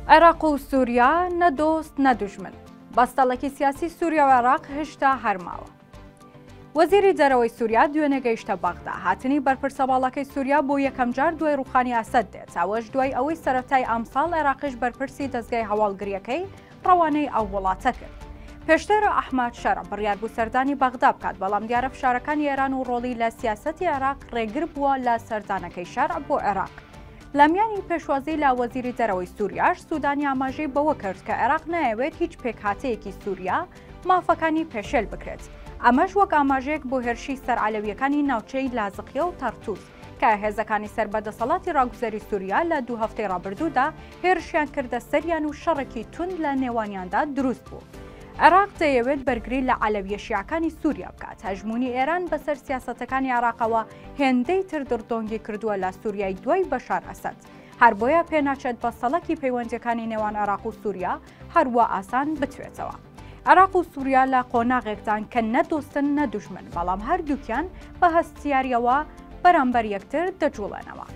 عێراق و سوریا نە دۆست نە دوژمن، بەستەڵەکی سیاسی سوریا و عێراق هشتا هەر ماوە. وەزیری دەرەوەی سوریا دوێنێ گەیشتە بەغدا، هاتنی بەرپرسە باڵاکەی سوریا بۆ یەکەمجار دوای ڕوخانی ئەسەد دێت، ئەوەش دوای ئەوەی سەرەتای ئەمساڵ عێراقیش بەرپرسی دەزگای هەواڵگرییەکەی ڕەوانەی ئەو وڵاتە کرد. پێشتر ئەحمەد شەرع بڕیار بوو سەردانی بەغدا بکات، بەڵام دیارە فشارەکانی ئێران و ڕۆڵی لە سیاسەتی عێراق ڕێگر بووە لە سەردانەکەی شەرع بۆ عێراق. لەمیانی پێشوازی لە وەزیری دەرەوەی سووریاش سوودانی ئاماژەی بەوە کرد کە عێراق نایەوێت هیچ پێکهاتەیەکی سووریا مافەکانی پێشێل بکرێت ئەمەش وەک ئاماژەیەک بۆ هێرشی سەر عەلەویەکانی ناوچەی لازقیە و تەرتوس کە هێزەکانی سەر بە دەسەڵاتی ڕاگوزەری سووریا لە دوو هەفتەی ڕابردوودا هێرشیان کردە سەریان و شەڕێکی توند لە نێوانیاندا دروست بوو. عێراق دەیەوێت بەرگری لە عەلەویە شیعەکانی سووریا بکات، هەژموونی ئێران بەسەر سیاسەتەکانی عێراقەوە هێندەی تر دڕدۆنگی کردووە لە سووریای دوای بەشار ئەسەد. هەر بۆیە پێناچێت بە سەڵکی پەیوەندییەکانی نێوان عێراق و سووریا هەر وا ئاسان بتوێتەوە. عێراق و سووریا لە قۆناغێکدان کە نە دۆستن نە دوژمن، بەڵام هەردووکیان بە هەستیارییەوە بەرامبەر یەکتر دەجووڵێنەوە.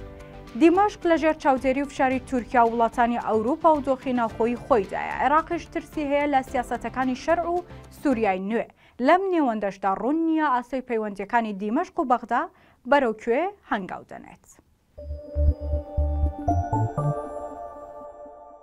دیمەشق لەژێر چاودێری و فشاری تورکیا و وڵاتانی ئەوروپا و دۆخی ناوخۆیی خۆیدایە، عێراقیش ترسی هەیە لە سیاسەتەکانی شەرع و سووریای نوێ، لەم نێوەندەشدا ڕوون نییە ئاسۆی پەیوەندییەکانی دیمەشق و بەغدا بەرەو کوێ هەنگاو دەنێت.